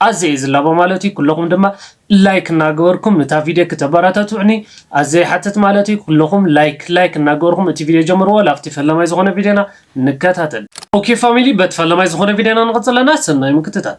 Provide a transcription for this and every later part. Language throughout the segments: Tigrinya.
ኣዝየ እየ ዝላቦ ማለት እዩ ኩለኹም ድማ ላይክ እናገበርኩም ንታ ቪድዮ ክተባራታቱዑኒ ኣዝየ ይሓትት ማለት እዩ ኩለኹም ላይክ ላይክ እናገበርኹም እቲ ቪድዮ ጀምርዎ ላብቲ ፈላማይ ዝኾነ ቪድዮና ንከታተል። ኦኬ ፋሚሊ በቲ ፈላማይ ዝኾነ ቪድዮና ንቕጽል ኣለና ሰናይ ምክትታል።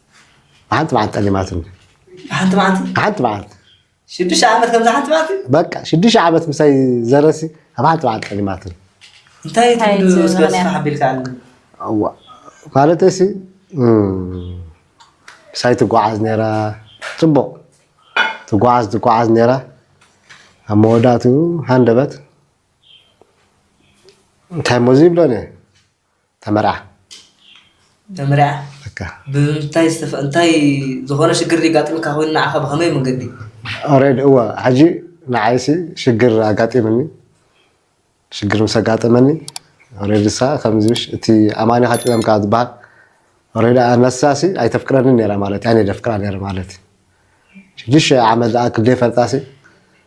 ሓንቲ መዓልቲ ጠሊማት ሓንቲ መዓልቲ ሓንቲ መዓልቲ ሽዱሽተ ዓመት ከምዛ ሓንቲ መዓልቲ በቃ ሽዱሽተ ዓመት ምሳይ ዘረሲ ኣብ ሓንቲ መዓልቲ ጠሊማት እንታይ ትብሉ እስከ ሓቢልካ ኣለኒ ማለት ሲ ምሳይ ትጓዓዝ ነይራ ፅቡቕ ትጓዓዝ ትጓዓዝ ነይራ ኣብ መወዳእትኡ ሃንደበት እንታይ ሞዚ ይብሎን እየ ተመርዓ ተመርዓ በቃ ብምንታይ ዝተፈ እንታይ ዝኾነ ሽግር ሊጋጥምካ ኮይኑ ንዓኻ ብኸመይ መንገዲ ኦሬድ እወ ሕጂ ንዓይሲ ሽግር ኣጋጢምኒ ሽግር ምስ ኣጋጠመኒ ኦሬድ እሳ ከምዚሽ እቲ ኣማኒኻ ጢበምካ ዝበሃል ኦሬድ ኣነሳሲ ኣይተፍቅረኒ ነራ ማለት ኣነ ደፍቅራ ነረ ማለት ሽዱሽተ ዓመት ዝኣክል ደይፈልጣሲ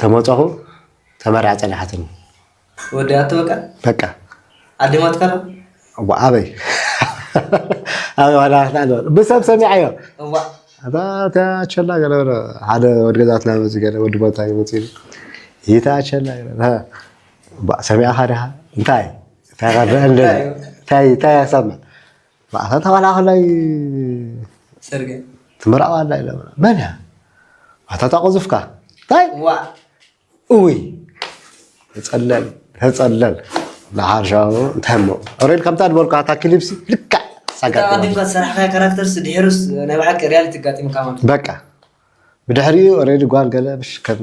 ተመጸኹ ተመርዐ ጸንሓትኒ ወዲኣቶ በቃ በቃ ዓዲማትካ ዶ እዋ ኣበይ ኣበይ ዋላ ክትዓል ብሰብ ሰሚዐዮ እዋ ኣታ እታ ቸላ ገለ በለ ሓደ ወዲ ገዛትና መፅኡ ገለ ወዲ ቦታ መፅኡ ኢሉ ይታ ቸላ ገለ በለ፣ "ሀ፣ እባ ሰሚዕኻ ድኻ እንታይ እንታይ ከረአ ኣለኒ እንታይ እንታይ ክሰምዕ ማዕረ ተኸላኸላይ ፅርግያ ትምራቕ ኣላ ኢለ መን እያ ኣታታ ቁዙፍካ እንታይ እውይ ተፀለል ተፀለል ንሓርሻዊ እንታይ እሞ ሬድ ከምታ ዝበልካ እታ ክሊፕሲ ልክዕ ኣቀዲምካ ዝሰራሕካዮ ካራክተርስ ድሕርስ ናይ ባዕልካ ሪያሊቲ ኣጋጢምካ ማለት በቃ ብድሕሪኡ ሬድ ጓል ገለ ከም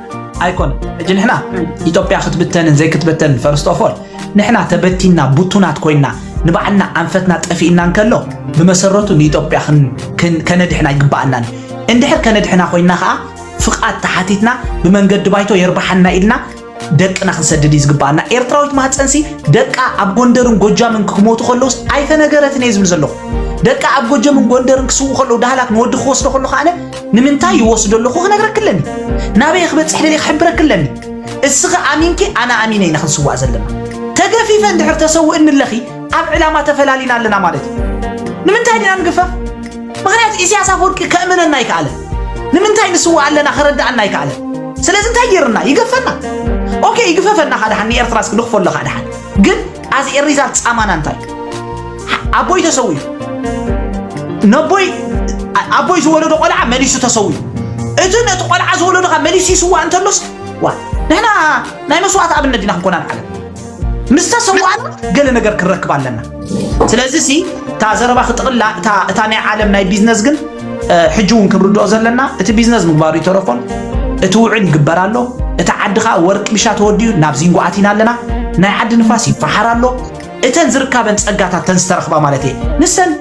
ኣይኮነን ሕጂ ንሕና ኢትዮጵያ ክትብተንን ዘይክትበተንን ፈርስት ኦፍ ኦል ንሕና ተበቲና ቡቱናት ኮይና ንባዕልና ኣንፈትና ጠፊእና እንከሎ ብመሰረቱ ንኢትዮጵያ ክን- ክን- ከነድሕና ይግባኣናን እዩ። እንድሕር ከነድሕና ኮይና ከዓ ፍቃድ ተሓቲትና ብመንገዲ ባይቶ የርባሓና ኢልና ደቅና ክንሰድድ እዩ ዝግባኣና ኤርትራዊት ማህፀንሲ ደቃ ኣብ ጎንደርን ጎጃምን ክሞቱ ከለውስ ኣይተነገረትን እየ ዝብል ዘለኹ ደቃ ኣብ ጎጀምን ጎንደርን ክስዉ ከለዉ ዳህላክ ንወዲ ክወስዶ ከሎ ከዓነ ንምንታይ ይወስዶ ኣለኹ ክነግረኪ ኣለኒ ናበይ ክበፅሕ ደልየ ክሕብረኪ ኣለኒ እስኺ ኣሚንኪ ኣነ ኣሚነ ኢና ክንስዋእ ዘለና ተገፊፈ እንድሕር ተሰውእኒ ኣለኺ ኣብ ዕላማ ተፈላሊና ኣለና ማለት እዩ ንምንታይ ዲና ንግፈፍ ምክንያቱ ኢሳያስ ኣፈወርቂ ከእምነና ይከኣለ ንምንታይ ንስዋእ ኣለና ክረዳኣና ይከኣለ ስለዚ እንታይ ገይርና ይገፈና ኦኬ ይግፈፈና ካደሓን ንኤርትራ እስኪ ንኽፈሎ ካደሓን ግን ኣዝ ኤ ሪዛልት ጻማና እንታይ ኣቦይ ተሰዊኡ ነቦይ ኣቦይ ዝወለዶ ቆልዓ መሊሱ ተሰዊኡ እቲ ነቲ ቆልዓ ዝወለዶ ካብ መሊሱ ይስዋእ እንተሎስ ዋ ንሕና ናይ መስዋእቲ ኣብነት ዲና ክንኮና ንዓለም ምስ ተሰዋእና ገለ ነገር ክንረክብ ኣለና ስለዚ ሲ እታ ዘረባ ክጥቕላ እታ ናይ ዓለም ናይ ቢዝነስ ግን ሕጂ እውን ክንርድኦ ዘለና እቲ ቢዝነስ ምግባሩ ይተረፎን እቲ ውዕል ይግበር ኣሎ እቲ ዓዲ ከዓ ወርቂ ብሻ ተወዲኡ ናብ ዚንጎ ኣቲና ኣለና ናይ ዓዲ ንፋስ ይፈሓር ኣሎ እተን ዝርካበን ፀጋታት ተን ዝተረኽባ ማለት እየ ንሰን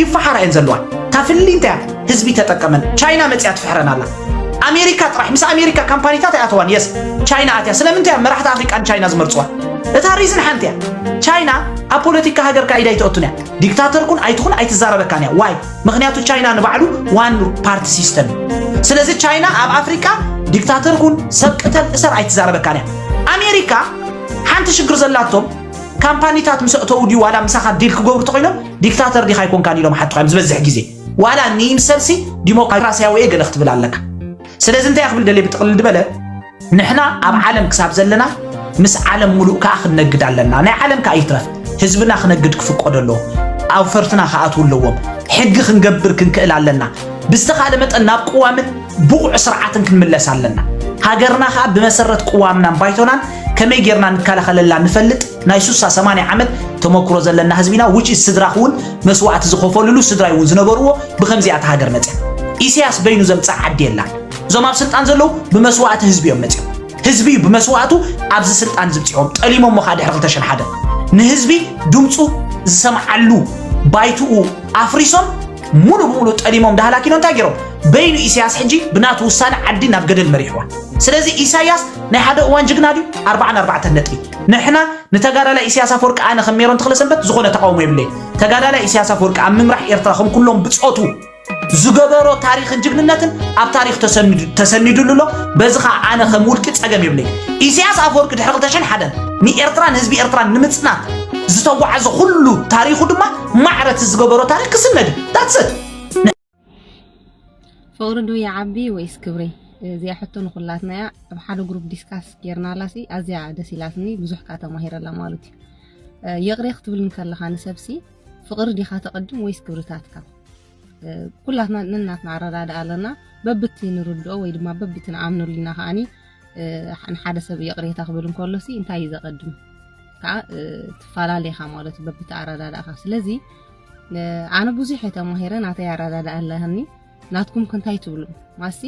ይፈሓራ እየን ዘለዋ እታ ፍሊ እንታይ ህዝቢ ተጠቀመን ቻይና መፅያ ትፍሕረን ኣላ ኣሜሪካ ጥራሕ ምስ ኣሜሪካ ካምፓኒታት ኣይኣተዋን የስ ቻይና ኣትያ ስለምንታይ መራሕቲ ኣፍሪቃ ንቻይና ዝመርፅዋ እታ ሪዝን ሓንቲ እያ ቻይና ኣብ ፖለቲካ ሃገርካ ኢዳ ኣይትኣቱን እያ ዲክታተር ኩን ኣይትኹን ኣይትዛረበካን እያ ዋይ ምክንያቱ ቻይና ንባዕሉ ዋን ፓርቲ ሲስተም እዩ ስለዚ ቻይና ኣብ ኣፍሪቃ ዲክታተር ኩን ሰብ ቅተል እሰር ኣይትዛረበካን እያ ኣሜሪካ ሓንቲ ሽግር ዘላቶም ካምፓኒታት ምስ ኣእተው ድዩ ዋላ ምሳኻ ዲል ክገብሩ ተኮይኖም ዲክታተር ዲኻ ኣይኮንካን ኢሎም ሓትኻ እዮም ዝበዝሕ ግዜ ዋላ ንይምሰልሲ ዲሞክራሲያዊ እየ ገለ ክትብል ኣለካ ስለዚ እንታይ እያ ክብል ደልየ ብጥቕልል ድበለ ንሕና ኣብ ዓለም ክሳብ ዘለና ምስ ዓለም ሙሉእ ከዓ ክንነግድ ኣለና። ናይ ዓለም ከዓ ይትረፍ ህዝብና ክነግድ ክፍቀዶ ኣለዎ። ኣውፈርትና ክኣትዉ ኣለዎም። ሕጊ ክንገብር ክንክእል ኣለና። ብዝተኻለ መጠን ናብ ቅዋምን ብቑዕ ስርዓትን ክንምለስ ኣለና። ሃገርና ከዓ ብመሰረት ቅዋምናን ባይቶናን ከመይ ጌርና ንከላኸለላ ንፈልጥ ናይ ሱሳ ሰማንያ ዓመት ተመክሮ ዘለና ህዝቢ ኢና ውጭ ስድራኽ እውን መስዋእቲ ዝኸፈልሉ ስድራይ እውን ዝነበርዎ ብከምዚኣ እታ ሃገር መፅያ ኢሳያስ በይኑ ዘምፅኣ ዓዲ የላን እዞም ኣብ ስልጣን ዘለዉ ብመስዋእቲ ህዝቢ እዮም መፅኦም ህዝቢ እዩ ብመስዋእቱ ኣብዚ ስልጣን ዝብፅሖም ጠሊሞሞ ከዓ ድሕሪ 201 ንህዝቢ ድምፁ ዝሰምዓሉ ባይትኡ ኣፍሪሶም ሙሉ ብሙሉ ጠሊሞም ዳህላኪኖ እንታይ ገይሮም በይኑ ኢሳያስ ሕጂ ብናቱ ውሳነ ዓዲ ናብ ገደል መሪሕዋ ስለዚ ኢሳያስ ናይ ሓደ እዋን ጅግና ድዩ ኣርባዓን ኣርባዕተን ነጥቢ ንሕና ንተጋዳላይ ኢሳያስ ኣፈወርቂ ኣነ ከም ሜሮን ተኽለሰንበት ዝኾነ ተቃውሞ የብለይ ተጋዳላይ ኢሳያስ ኣፈወርቂ ኣብ ምምራሕ ኤርትራ ከም ኩሎም ብፆቱ ዝገበሮ ታሪኽን ጅግንነትን ኣብ ታሪኽ ተሰኒዱ- ተሰኒዱሉ ኣሎ በዚ ከዓ ኣነ ከም ውልቂ ፀገም የብለይ ኢሳያስ ኣፈወርቂ ድሕሪ 2001 ንኤርትራን ህዝቢ ኤርትራን ንምፅናት ዝተጓዓዘ ኩሉ ታሪኹ ድማ ማዕረት ዝገበሮ ታሪክ ክስነድ ዳትሰት ፍቕሪ ዶ ይዓቢ ወይስ ክብሪ እዚኣ ሕቶ ንኩላትና እያ ኣብ ሓደ ግሩፕ ዲስካስ ጌርናላሲ ኣዝያ ደስ ኢላትኒ ብዙሕ ከዓ ተማሂረላ ማለት እዩ እ፣ ይቕሬ ክትብል እንከለኻ ንሰብሲ ፍቅሪ ዲኻ ተቀድም ወይስ ክብርታትካ? ኩላትና ነናትና ኣረዳድኣ ኣለና በብቲ ንርድኦ ወይ ድማ በብቲ ንኣምነሉ ኢና ከዓኒ ንሓደ ሰብ ይቕሬታ ክብል እንከሎሲ እንታይ እዩ ዘቐድም ከዓ ትፈላለኻ ማለት እዩ በብቲ ኣረዳድእኻ ስለዚ ኣነ ብዙሕ እየ ተማሂረ ናተይ ኣረዳድኣ ኣለኒ ናትኩም ክንታይ ትብሉ ማሲ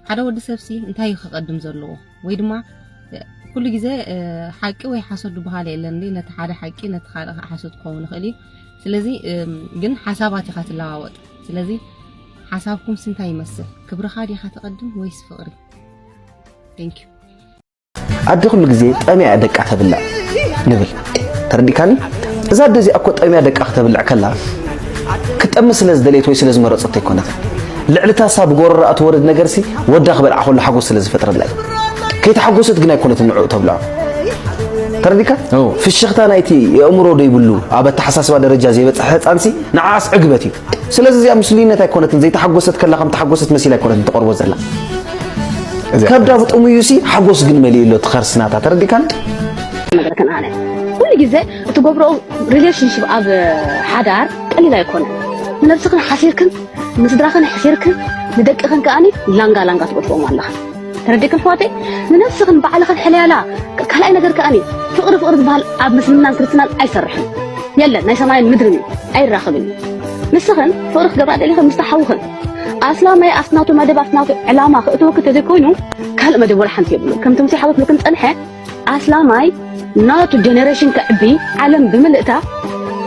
ሓደ ወዲ ሰብሲ እንታይ እዩ ከቀድም ዘለዎ ወይ ድማ ኩሉ ግዜ ሓቂ ወይ ሓሶት ዝበሃል የለን እንዴ ነቲ ሓደ ሓቂ ነቲ ካልእ ከዓ ሓሶት ክኸውን ይኽእል እዩ ስለዚ ግን ሓሳባት ኢኻ ትለዋወጥ ስለዚ ሓሳብኩም ስንታይ ይመስል ክብርኻ ዲኻ ተቀድም ወይስ ፍቅሪ ቴንኪዩ ኣደ ኩሉ ግዜ ጠምያ እያ ደቃ ተብልዕ ንብል ተረዲእካኒ እዛ ኣደ እዚኣ እኮ ጠምያ ደቃ ከተብልዕ ከላ ክጠሚ ስለ ዝደለየት ወይ ስለ ዝመረጸት ኣይኮነት ልዕልታ ሳብ ጎረራ እትወርድ ነገርሲ ወዳ ክበልዓ ከሎ ሓጎስ ስለ ዝፈጥረላ እዩ ከይተሓጎሰት ግን ኣይኮነት ንዕኡ ተብልዖ ተረዲካ ፍሽኽታ ናይቲ የእምሮ ዘይብሉ ኣብ ኣተሓሳስባ ደረጃ ዘይበፅሐ ህፃንሲ ንዓኣስ ዕግበት እዩ ስለዚ እዚኣ ምስሉይነት ኣይኮነትን ዘይተሓጎሰት ከላ ከም ተሓጎሰት መሲላ ኣይኮነትን ተቐርቦ ዘላ ከብዳ ብጥሙዩ ሲ ሓጎስ ግን መሊኡ ኣሎ ትኸርስናታ ተረዲካን ነገረከን ኣነ ኩሉ ግዜ እትገብሮ ሪሌሽንሽፕ ኣብ ሓዳር ቀሊል ኣይኮነን ንነብስክን ሓሲርክን ንስድራክን ሕሲርክን ንደቅክን ከኣኒ ላንጋ ላንጋ ትገጥሮም ኣለኻ ተረዲእክ ኣሕዋተይ ንነብስኽን ባዕልኽን ሕለያላ ካልኣይ ነገር ከኣኒ ፍቕሪ ፍቕሪ ዝበሃል ኣብ ምስልምናን ክርስትናን ኣይሰርሕን የለን ናይ ሰማይን ምድርን እዩ ኣይራኽብን እዩ ንስኽን ፍቕሪ ክገብራ ደሊኽን ምስታ ሓውኽን ኣስላማይ ኣብቲ ናቱ መደብ ኣብቲ ናቱ ዕላማ ክእትወኪ ተዘይኮይኑ ካልእ መደብ ወላ ሓንቲ የብሉ ከምቲ ሙሴ ሓወት ብልክን ፀንሐ ኣስላማይ ናቱ ጀነሬሽን ክዕቢ ዓለም ብምልእታ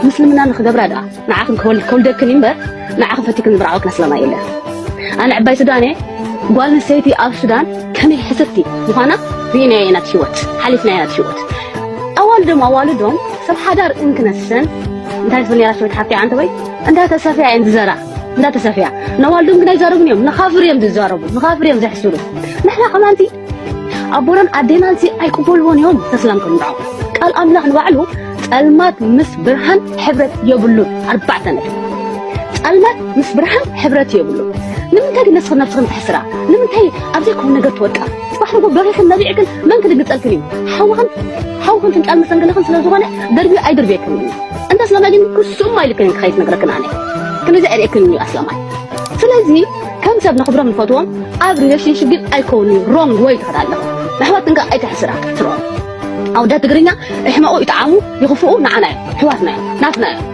ምስልምና ንክገብራ ድኣ ንዓኽን ከውልደክን እዩ እምበር ንዓኽን ፈቲክን ዝምርዓወክን ኣስላማይ የለን ኣነ ዕባይ ሱዳን እየ ጓል ንሰይቲ ኣብ ሱዳን ከመይ ሕስርቲ ዝኾና ርኢናዮ ኢና ህይወት ሓሊፍናዮ ኢና ህይወት ኣዋልዶም ኣዋልዶም ሰብ ሓዳር እንክነሰን እንታይ ትብል ነራ ሰበይቲ ሓፍቲ ዓንተ ወይ እንዳተሰፍያ እየን ዝዘራ እንዳተሰፍያ ነዋልዶም ግን ኣይዛረቡን እዮም ንኻፍር እዮም ዝዛረቡ ንኻፍር እዮም ዘሕስሩ ንሕና ከማንቲ ኣቦናን ኣዴናን እዚ ኣይቅበልዎን እዮም ተስላም ከም ንዖም ቃል ኣምላኽ ንባዕሉ ጸልማት ምስ ብርሃን ሕብረት የብሉን ኣርባዕተ ነጥቢ ጸልማት ምስ ብርሃን ሕብረት የብሉን ንምንታይ ግን ነስኽን ነብስኽን ትሕስራ ንምንታይ ኣብ ዘይኮነ ነገር ትወድቃ ጽባሕ ንጎ በሪኽን ነቢዕክን መን ክድንግጸልክን እዩ ሓውኽን ሓውኽን ፍንጫል መሰንገለኽን ስለ ዝኾነ ደርብዮ ኣይድርብየክን እዩ እንተ ስለማይ ግን ክሱም ኣይልክን ክኸይት ነግረክን ኣነ ክንዚ ዕርእክን እዩ ኣስላማይ ስለዚ ከም ሰብ ነኽብሮም ንፈትዎም ኣብ ሪሌሽንሽፕ ግን ኣይከውን እዩ ሮንግ ወይ ትኸዳ ኣለኹ ኣሕዋት እንካ ኣይተሕስራ ክትሮ ኣውዳ ትግርኛ እሕመቑ ይጠዓሙ ይኽፍኡ ንዓና እዮም ኣሕዋትና እዮም ናትና እዮም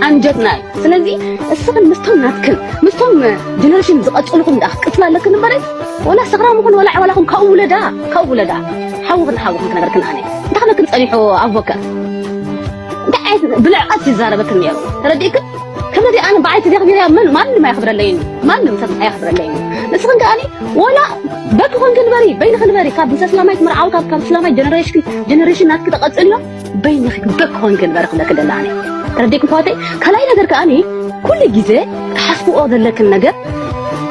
ኣንጀትና እዩ ስለዚ እስኽን ምስቶም ናትክን ምስቶም ጀነሬሽን ዝቐፅልኹም ዳ ክትቅፅላ ኣለክን እምበረይ ወላ ሰኽራም ይኹን ወላ ዕዋላኹም ካብኡ ውለዳ ካብኡ ውለዳ ሓውኽን ሓውኽን ክነበርክን ኣነ እንታይ ከመክን ፀኒሑ ኣቮከር እንታይ ዓይነት ብልዕቐት ይዛረበክን ነይሩ ተረዲእክን ከመዚ ኣነ ብዓይ ተዘኽቢረያ መን ማንም ኣየኽብረለይን ማንም ሰብ ኣየኽብረለይን ንስኽን ከኣኒ ወላ በኪ ኮንኪ ንበሪ በይንኺ ንበሪ ካብ ምስ ኣስላማይት ምርዓው ካብ ካብ እስላማይ ጀነሬሽን ጀነሬሽን ናትኪ ተቐጽልዮ በይንኺ በኪ ኮንኪ ንበሪ ክብለኪ ደላ ኣነ ተረዲእኩም ኣሕዋተይ ካልኣይ ነገር ከኣኒ ኩሉ ግዜ ትሓስብኦ ዘለክን ነገር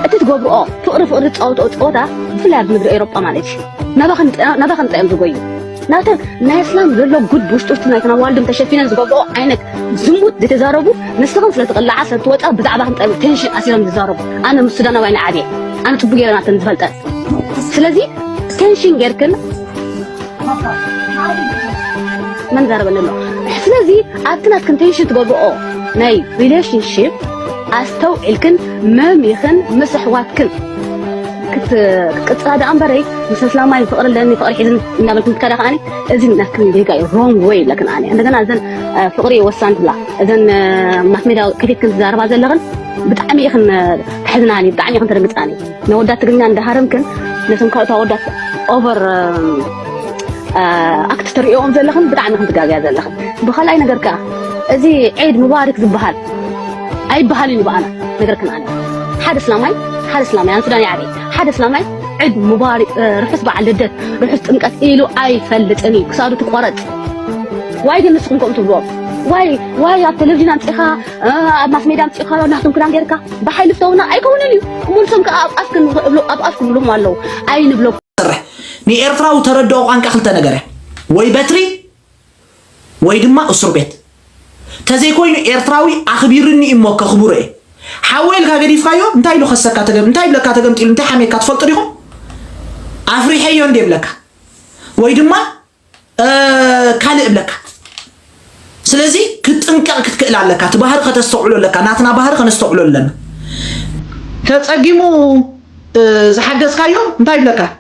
እቲ ትገብርኦ ፍቕሪ ፍቕሪ ትጻወትኦ ጸወታ ብፍላይ ኣብዚ ምድሪ ኤሮጳ ማለት እዩ ናባኸ ናባኸ እንታይ እዮም ዝጎዩ ናተን ናይ ኣስላም ዘሎ ጉድ ብውሽጡቲ ናይተን ኣዋልድም ተሸፊነን ዝገብርኦ ዓይነት ዝሙት ዝተዛረቡ ንስኽን ስለ ትቕልዓ ስለ ትወፃ ብዛዕባ ክንጠብ ቴንሽን ኣሲሮም ዝዛረቡ ኣነ ምስ ሱዳናውያን ዓብየ ኣነ ፅቡቅ ገይረ ናተን ዝፈልጠ ስለዚ ቴንሽን ጌርክን መን ዛረበኒ ኣሎ ስለዚ ኣብቲ ናትክን ቴንሽን ትገብርኦ ናይ ሪሌሽንሽፕ ኣስተውዒልክን መሚኽን ምስ ኣሕዋትክን ክትቅፅላ ደኣ እምበረይ ምስ ኣስላማይ ፍቅሪ ኣለኒ ፍቅሪ ሒዝን እናበልክን ትከዳ ከዓኒ እዚ ናትክን ጌጋ እዩ ሮንግ ወይ ኣለክን ኣነ እንደገና እዘን ፍቅሪ ወሳን ትብላ እዘን ማስ ሜድያ ከፊትክን ትዛረባ ዘለኽን ብጣዕሚ ኢኽን ተሕዝናኒ ብጣዕሚ ኢኽን ተደንግፃኒ ነወዳት ትግርኛ እንዳሃረምክን ነቶም ካልኦት ኣወዳት ኦቨር ኣክት ትሪእኦም ዘለኽን ብጣዕሚ ኢኽን ትጋግያ ዘለኽን ብካልኣይ ነገር ከዓ እዚ ዒድ ሙባሪክ ዝበሃል ኣይበሃልን እዩ ብኣና ነገር ግን ኣነ ሓደ እስላማይ ሓደ እስላማይ ኣነ ሱዳን ይዓበይ ሓደ እስላማይ ዕድ ሙባሪክ ርሑስ በዓል ልደት ርሑስ ጥምቀት ኢሉ ኣይፈልጥን እዩ ክሳዱ ትቆረፅ ዋይ ግን ንስኹም ከምኡ ትብልዎም ዋይ ዋይ ኣብ ቴሌቪዥን ኣምፂኻ ኣብ ማስ ሜድያ ኣምፂኻ ናቶም ክዳን ጌርካ ብሓይሊ ፍተውና ኣይከውንን እዩ ሙልሶም ከዓ ኣብ ኣፍክን እብሉ ኣብ ኣፍክን ብሎም ኣለዉ ኣይንብሎም ሰርሕ ንኤርትራዊ ተረድኦ ቋንቃ ክልተ ነገር እያ ወይ በትሪ ወይ ድማ እሱር ቤት ተዘይ ኮይኑ ኤርትራዊ ኣኽቢርኒ እዩ እሞ ከኽብሮ እየ ሓወይ ኢልካ ገዲፍካዮ እንታይ ኢሉ ከሰካ ተገም እንታይ ይብለካ ተገምጢሉ እንታይ ሓሜካ ትፈልጡ ዲኹም ኣፍሪሐዮ እንደ ይብለካ ወይ ድማ ካልእ እብለካ ስለዚ ክትጥንቀቕ ክትክእል ኣለካ እቲ ባህሪ ከተስተውዕሎ ኣለካ ናትና ባህሪ ከነስተውዕሎ ኣለና ተጸጊሙ ዝሓገዝካዮ እንታይ ይብለካ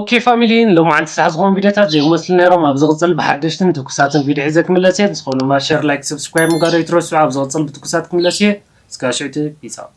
ኦኬ ፋሚሊ ሎማዓንቲ ሰዓት ዝኾኑ ቪድዮታት ዘይም መስሉ ነይሮም ኣብ ዝቕፅል ብሓደሽትን ትኩሳትን ቪድዮ ሒዘ ክምለስ እየ ብዝኾነ ድማ ሸር ላይክ ሰብስክራይብ ምግባር ኣይትረስዑ ኣብ ዝቕፅል ብትኩሳት ክምለስ እየ እስካብ ሽዕቲ ፒስ ኣውት